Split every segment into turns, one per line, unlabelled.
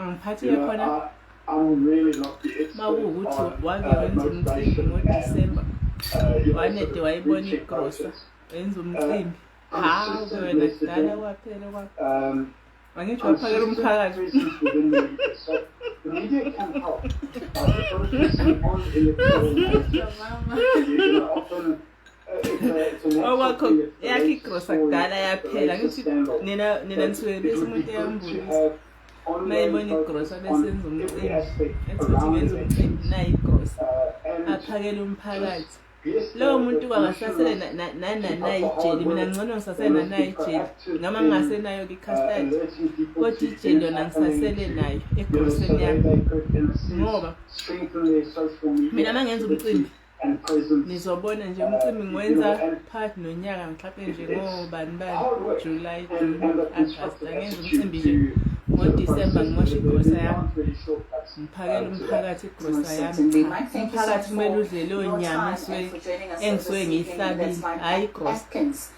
ngiphathile
khona makuwukuthi wake wenza umcimbi ngodisemba wanede wayibona igrosa wenza umcimbi hawu wena dala kwaphela kwa angitsho waphakela umphakathi The media can help. Uh, the person on electoral you know, often okwakho yakho igrosa kudala yaphela ngithi nina nina nisuke bese umuntu eyambulisa uma ebona igrosa bese enza umcimbi ethuthi benza umcimbi nayo igrosa aphakele
umphakathi lowo muntu kwangasasele nananayijeli mina ngcono ngisasele nanayijeli ngama ngingasenayo-ke icustard kodwa ijeli yona ngisasele nayo egroseni yami ngoba mina uma ngenza umcimbi nizobona nje umcimbi ngiwenza phakathi nonyaka mhlawumpe nje ngobani bani july june agast angenza umcimbi nje ngodisemba ngimosha igrosa yami ngiphakela umphakathi igrosa yami umphakathi kumele udle leyo nyama engisuke ngiyihlabile hhayi igrosa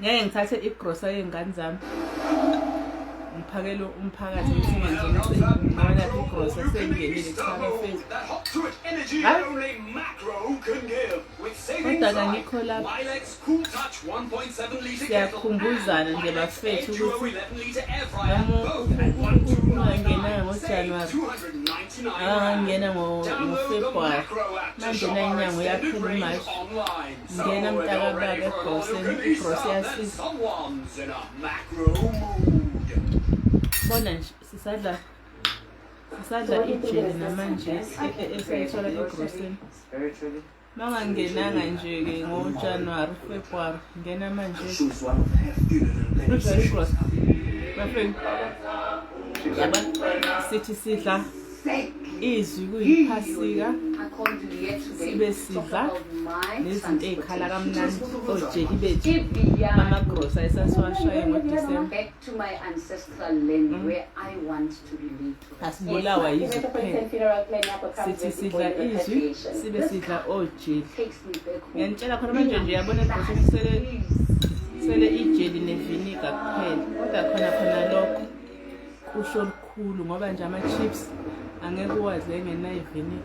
ngeke ngithathe igrosa yey'ngane zami ngiphakele umphakathi ukuthi manje ngibona igrosa sekungenile kuqala fezi kodwa kangikho lapha siyakhumbuzana nje bafethu ukuthi ungangenanga ngojanuwari akangangena ngofebruwari manje nayinyanga uyaphela imashi Ngena mntakababa egrosini, igrosi yasisa. Someone's in a macro mood. Bona nje sisadla sisadla ijeli namanje esiyithola egrosini. Spiritually, Mangangenanga nje ke ngoJanuary, February ngena manje. Shoes one of the hefty little Kujwayele organizations. igrosi. Bafethu. Yaba sithi sidla izwi kuyiphasika sibe sidla nezinto ey'khala kamnandi ojeki bethu amagrosa esasiwashaye ngodisemba asibulawa yizwi kuphela sithi sidla izwi sibe sidla ojeki ngiyanitshela khona manje nje yabona ebhosini kusele ijeli neviniga kuphela kodwa khona khona lokho kusho lukhulu ngoba nje ama-chips angeke uwadle engenayivini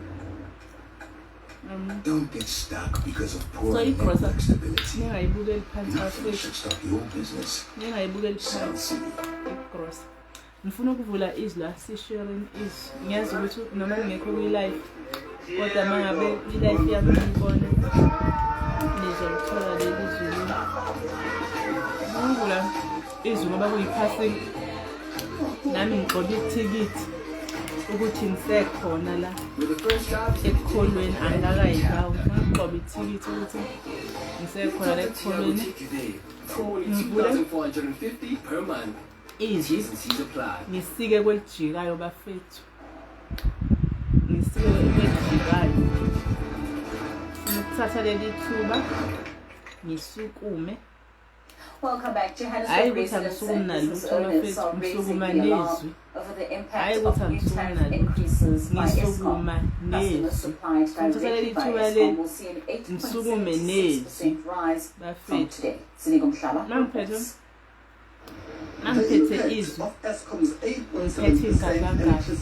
um, Don't get
stuck because of poor so network stability. Ningayibukeli phansi Nothing
should stop your
business. Ningayibukeli
phansi
igrosa.
Ngifuna ukuvula izwi la sisharing izwi. Ngiyazi ukuthi noma ngingekho kwi-life kodwa uma ngabe ilife yami ngiyibona nizolithola leli zulu ngula izulu ngoba kuyiphasini nami ngigxobe ithikithi ukuthi ngisekhona la ekukholweni angikakayibawo ngigxobe ithikithi ukuthi ngisekhona la ekukholweni ngivule izwi ngisike kwelijikayo bafethu ngisiwe ukwedlikayo ukuthatha leli thuba ngisukume
Welcome back. Johannes Hayi ukuthi
angisukumi
nalutho mfethu
ngisukuma nezwi.
Hayi ukuthi angisukumi
nalutho ngisukuma nezwi.
Ngithola
leli
thuba
le
ngisukume
nezwi.
Bafethu. Nangiphethe.
angiphethe
izwi
ngiphethe
ingangangahle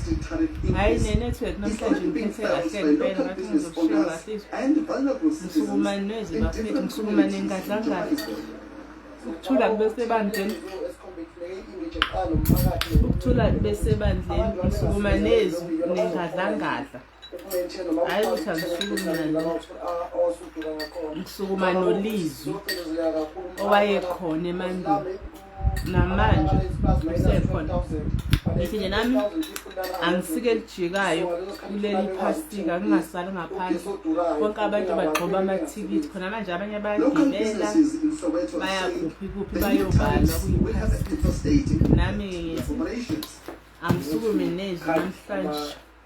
hhayi ne-network
namhlanje ngiphethe kahle
ngempela ngathi
ngizoshiya
kahle izwi msukumane nezwi
bafethu
msukumane ngadlangahle ukuthula
kube sebandleni ukuthula kube sebandleni msukuma nezwi nengadlangadla hayi ukuthi angisukuma nolizwi owayekhona emandulo namanje usekhona ngithi nje nami angisike elijikayo kuleli phastika kungasali ngaphandle konke abantu bagxoba amathikithi khona manje abanye bayagibela
bayakuphi kuphi
bayobala kuyiphastika nami
angisukume
nezwi namhlanje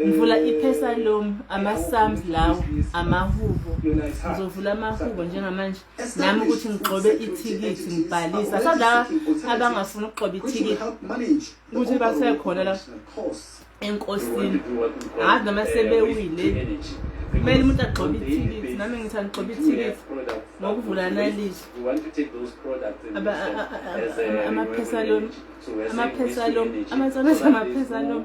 ngivula eh, ipesalom ama-sums lawo amahubo ngizovula amahubo njengamanje nami ukuthi ngigxobe ithikithi ngibhalise asazi laba abangafuni ukugxoba ithikithi ukuthi basekhona la enkosini ngazi noma sebewile kumele umuntu agxobe ithikithi nami ngithi angigxobe ithikithi ngokuvula analize amaphesalom amaphesalom amasanasa amaphesalom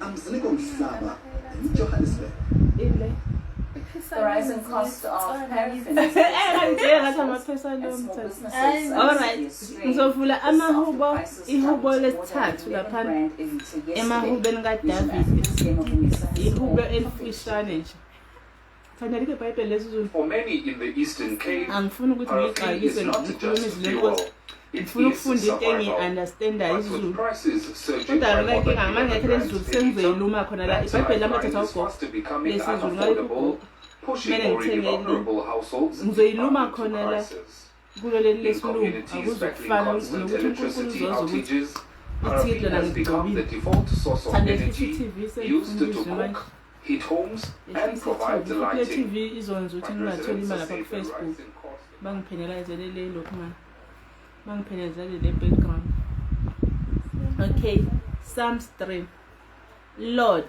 Amzini komhlaba eJohannesburg. Ile. The rising cost
of paraffin. Alright. Ngizovula amahubo ihubo lesithathu lapha emahubeni kaDavid. Ihubo elifishane nje. For many in the Eastern Cape,
parafin is not
just
fuel.
ngifuna ukufunda
into engiyi-understandayo izulu
kodwa
lona inkinga
amangekhe
lesizulu sengizeyile
uma khona
la
ibhayibheli lamathatha ugogo lesizulu
ngayikugogo kumele ngithengele ngizoyiluma khona
la
kulo leli
lesilungu akuzokufana
nokuthi
unkulunkulu uzoza
ukuthi ithile lana ngigqobile thande futhi i-tv sengifundizwe manje heat homes and provide the lighting. TV izonza ukuthi
ngingatholi imali lapha kufacebook bangiphenelazele le lokhu mani bangiphenelazele le background okay psalms 3 lord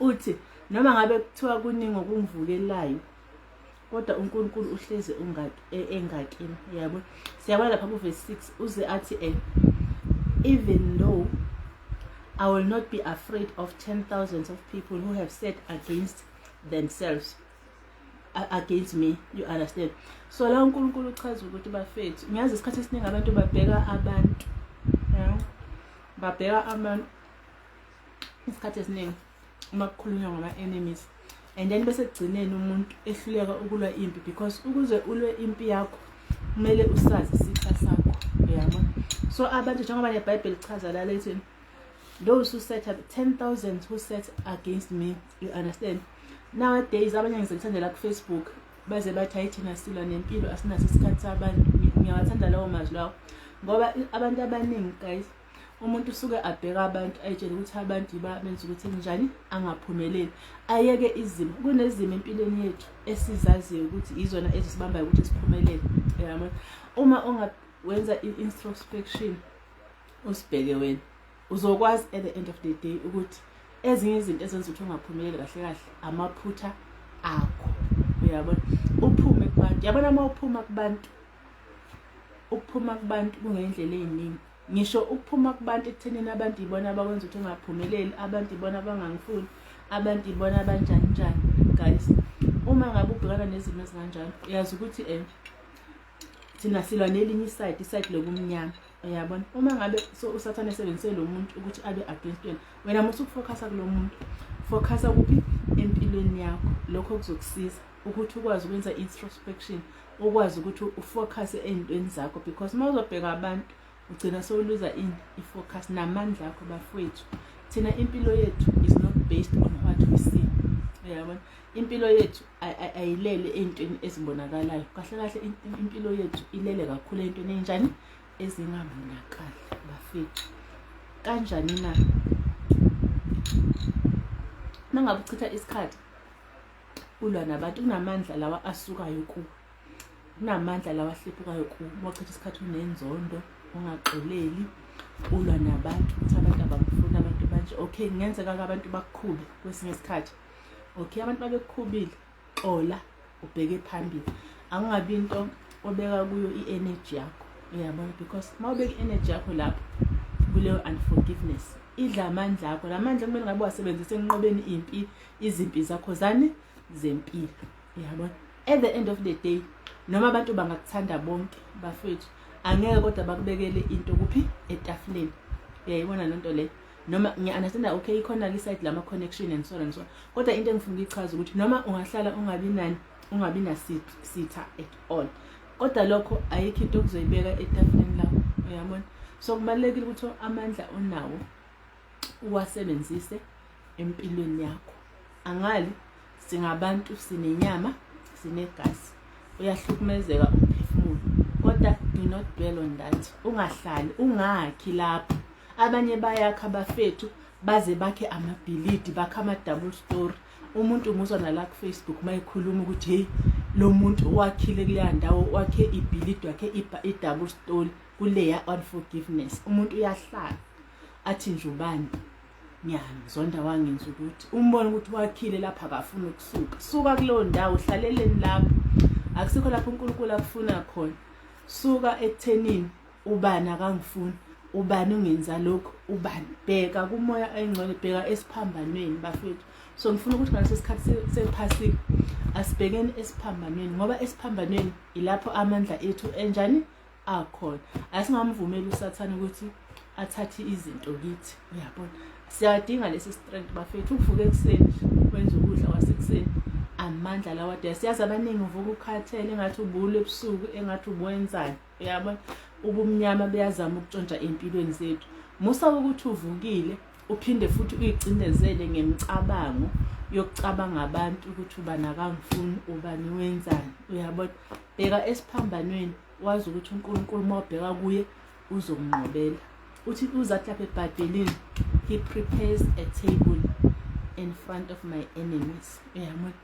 Uthi noma ngabe kuthiwa kuningi okungivukelayo kodwa uNkulunkulu uhleze e, engakini yabo siyabona lapha kuvesi six uze athi um even though I will not be afraid of ten thousands of people who have said against themselves against me you understand so la uNkulunkulu uchaza ukuthi bafethu ngiyazi isikhathi esiningi abantu babheka abantu babheka abantu isikhathi esiningi uma kukhulunywa ngama-enemies and then bese kugcineni umuntu ehluleka ukulwa impi because ukuze ulwe impi yakho kumele usazi isitha sakho yabo so abantu njengoba nebhayibheli lichaza la lethi those who set up 10000 who set against me you understand nowadays abanye ngize ngithandela kufacebook baze bathi hayi thina silwa nempilo asinaso isikhathi sabantu ngiyawathanda lawo mazwi lawo ngoba abantu abaningi guys umuntu usuke abheka abantu ayitshele ukuthi abantu yiba benza ukuthi njani angaphumeleli ayeke izimo kunezimo empilweni yethu esizaziyo ukuthi yizona ezisibambayo ukuthi siphumelele yabo uma ungawenza i-introspection usibheke wena uzokwazi at the end of the day ukuthi ezinye izinto ezenza ukuthi ungaphumeleli kahle kahle amaphutha akho uyabona uphume kubantu yabona uma uphuma kubantu ukuphuma kubantu kungendlela eziningi ngisho ukuphuma kubantu ekuthenini abantu ibona abakwenza ukuthi ungaphumeleli abantu ibona abangangifuni abantu ibona abanjani njani guys uma ngabe ubhekana nezimo ezinganjalo uyazi ukuthi um thina silwa nelinye isayidi isayidi lokumnyama uyabona uma ngabe so usathane esebenzise lo muntu ukuthi abe against wena wena muthi ukufokhasa kulo muntu fokhasa kuphi empilweni yakho lokho kuzokusiza ukuthi ukwazi ukwenza introspection ukwazi ukuthi ufocus ezintweni zakho because uma uzobheka abantu ugcina sowuluza in ifocus namandla akho bafowethu thina impilo yethu is not based on what we see uyabona impilo yethu ayilele ezintweni ezibonakalayo kahle kahle impilo yethu ilele kakhulu ezintweni enjani ezingabonakali bafethu kanjani na nangabe uchitha isikhathi ulwa nabantu kunamandla lawa asukayo ku kunamandla lawa ahlephukayo ku wachitha isikhathi unenzondo ungaxoleli ulwa nabantu ukuthi abantu abakufuni abantu banje okay kungenzeka ke abantu bakukhube kwesinye isikhathi okay abantu babekukhubile xola ubheke phambili angabi into obeka kuyo i-energy yakho uyabona because uma ubeka i-energy yakho lapho kuleyo unforgiveness idla amandla akho la mandla kumele ngabe wasebenzise enqobeni impi izimpi zakho zani zempilo yabona at the end of the day noma abantu bangakuthanda bonke bafethu angeke kodwa bakubekele into kuphi etafuleni uyayibona loo nto leyo noma ngiya-understanda okay ikhona kwi-side lama-connection and so and so kodwa into engifuna ukuyichaza ukuthi noma ungahlala ungabi nani ungabi nasitha at all kodwa lokho ayikho into okuzoyibeka etafuleni lakho uyabona so kubalulekile ukuthi amandla onawo uwasebenzise empilweni yakho angali singabantu sinenyama sinegazi uyahlukumezeka umphefumulo kodwa do not dwell on that ungahlali ungakhi lapho abanye bayakha abafethu baze bakhe amabhilidi bakhe ama-double story umuntu umuzwa nala kufacebook uma ekhuluma ukuthi heyi lo muntu wakhile kuleya ndawo wakhe ibhilidi wakhe i-double story kuleya unforgiveness umuntu uyahlala athi nje ubani ngiyamzonda wangenza ukuthi umbone ukuthi wakhile lapha akafuni ukusuka suka kuleyo ndawo hlaleleni lapho akusikho lapho unkulunkulu akufuna khona suka ekuthenini ubani akangifuni ubani ungenza lokhu ubani bheka kumoya ayingcwele bheka esiphambanweni bafethu so ngifuna ukuthi ngaleso sikhathi sephasika asibhekeni esiphambanweni ngoba esiphambanweni ilapho amandla ethu enjani akhona asingamvumeli usathane ukuthi athathe izinto kithi uyabona siyadinga lesi strength bafethu uvuke ekuseni wenza ukudla kwasekuseni amandla lawa de siyazi abaningi uvuka ukhathele engathi ubulu ebusuku engathi ubuwenzani uyabona ubumnyama buyazama ukutshontsha empilweni zethu musa ukuthi uvukile uphinde futhi uyicindezele ngemicabango yokucabanga abantu ukuthi ubani akangifuni ubani wenzani uyabona bheka esiphambanweni wazi ukuthi unkulunkulu uma ubheka kuye uzomnqobela uthi uzathi lapha ebhayibhelini he prepares a table in front of my enemies uyabona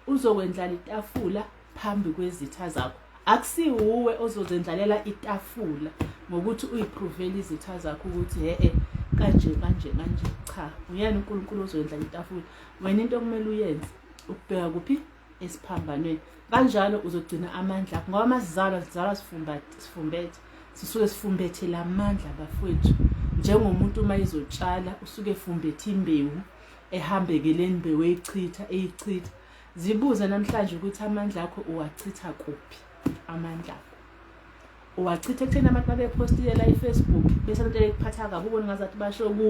Uzokwendlala itafula phambi kwezitha zakho. Akusiwuwe ozozendlalela itafula ngokuthi uyipruvele izitha zakho ukuthi he-e kanje kanje kanje cha nguyena uNkulunkulu ozoyendlala itafula wena into okumele uyenze ukubheka kuphi esiphambanweni kanjalo uzogcina amandla akho ngoba amasizalwa sizalwa sifumbethe sisuke sifumbethe la mandla bafowethu njengomuntu uma ezotshala usuke efumbethe imbewu ehambeke le mbewu eyichitha eyichitha zibuze namhlanje ukuthi amandla akho uwachitha kuphi amandla akho uwachitha ekutheni abantu babephostiye la ifacebook bese abantu ekuphatha kabi ubona ngazathi basho ku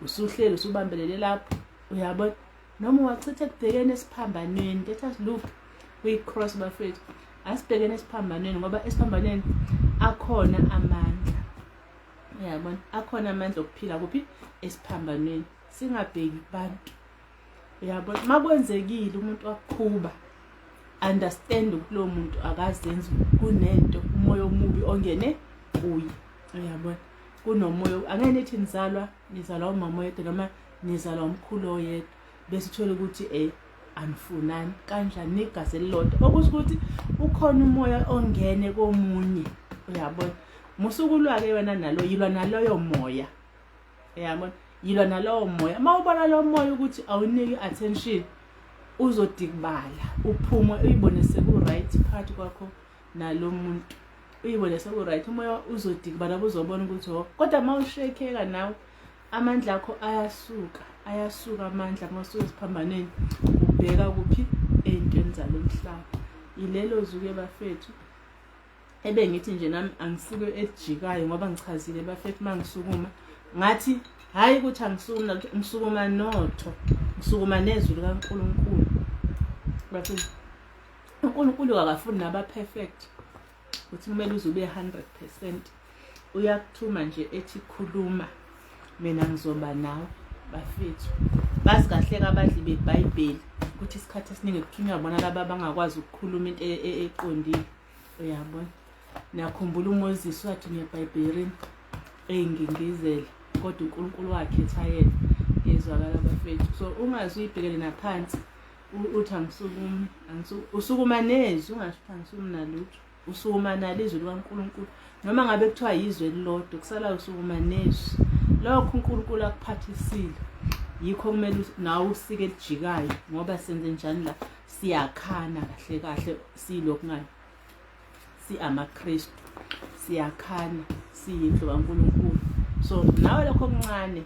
usuhleli usubambelele lapho uyabona noma uwachitha ekubhekeni esiphambanweni let us look kwi-cross bafethu asibhekeni esiphambanweni ngoba esiphambanweni akhona amandla uyabona akhona amandla okuphila kuphi esiphambanweni singabheki kubantu uyabo makwenzekile umuntu wakukhuba understand ukuthi lo muntu akazenzi kunento umoya omubi ongene kuye uyabona kunomoya angeke nithi nizalwa nizalwa umama oyedwa noma nizalwa umkhulu oyedwa bese uthole ukuthi eh anifunani kanjani negazi elilodwa okusho ukuthi ukhona umoya ongene komunye uyabona musuku lwake wena nalo yilwa naloyo moya yabona yilwa nalowo moya uma ubona lowo moya ukuthi awuniki attention uzodikibala uphume uyibone seku-right phakathi kwakho nalo muntu uyibone seku-right umoya uzodikibala buzobona ukuthi ho oh, kodwa uma ushekeka nawe amandla akho ayasuka ayasuka amandla uma usuziphambaneni ubheka kuphi ey'ntweni zalo mhlaba yilelo zuke bafethu ebe ngithi nje nami angisuke ejikayo ngoba ngichazile bafethu uma ngisukuma ngathi hhayi ukuthi angisukumi nalutho ngisukuma notho ngisukuma nezwi likankulunkulu bafethu unkulunkulu akafuni naba-perfect ukuthi kumele uze ube 100 percent uyakuthuma nje ethi khuluma mina ngizoba nawe bafethu bazi kahle kabadli bebhayibheli ukuthi isikhathi esiningi kuthunywa bona laba abangakwazi ukukhuluma into e-, e-, eqondile uyabona nakhumbula umoses wathi ngebhayibhelini eyingingizele kodwa unkulunkulu wakhetha yena ngezwakala bafethu so ungazi uyibhekele naphansi uthi angisukumi usukuma nezwi ungasho ukuthi angisumi nalutho usukumanala izwi likaNkulunkulu noma ngabe kuthiwa yizwe elilodwa kusalayo usukumanezwi lokho uNkulunkulu akuphathisile yikho kumele nawe usike lijikayo ngoba senze njani la siyakhana kahle kahle silokhu ngani siamaKristu siyakhana siyindlu kaNkulunkulu so nawe lokho okuncane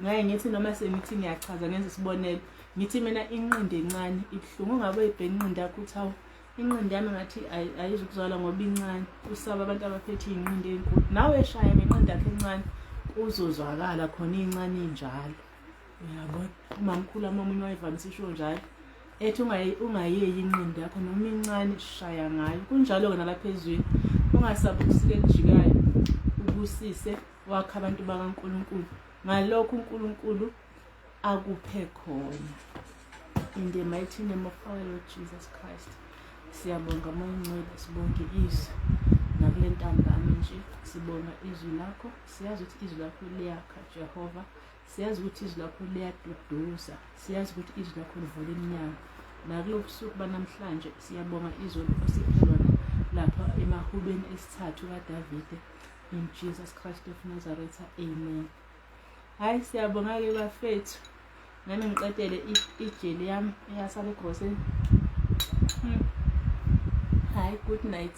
ngaye ngithi noma sengithi ngiyachaza ngenza isibonelo ngithi mina inqindi encane ibuhlungu ungabe uyibheka inqindi yakho uthi awu inqindi yami ngathi ayizukuzwala ngoba incane usaba abantu abaphethe iy'nqindi ey'nkulu nawe eshaya ngenqindi yakhe encane kuzozwakala khona iy'ncane injalo uyabona umamkhulu amamunye wayevamise isho njalo ethi ungayeki inqindi yakho noma incane shaya ngayo kunjalo-ke nalapha ezweni ungasabi ukusika ekujikayo ubusise wakhe abantu bakankulunkulu ngalokho unkulunkulu akuphe khona in the mighty name of our lord jesus christ siyabonga moyincwele sibonge izwi nakule ntambama nje sibonga izwi lakho siyazi ukuthi izwi lakho liyakha jehova siyazi ukuthi izwi lakho liyaduduza siyazi ukuthi izwi lakho livula iminyango nakulo busuku banamhlanje siyabonga izolo osiphelona lapha emahubeni esithathu kadavide in jesus christ of nazareth amen hayi siyabonga-ke bafethu nami ngiqedele ijeli yami eyasala egroseni hmm. hayi good night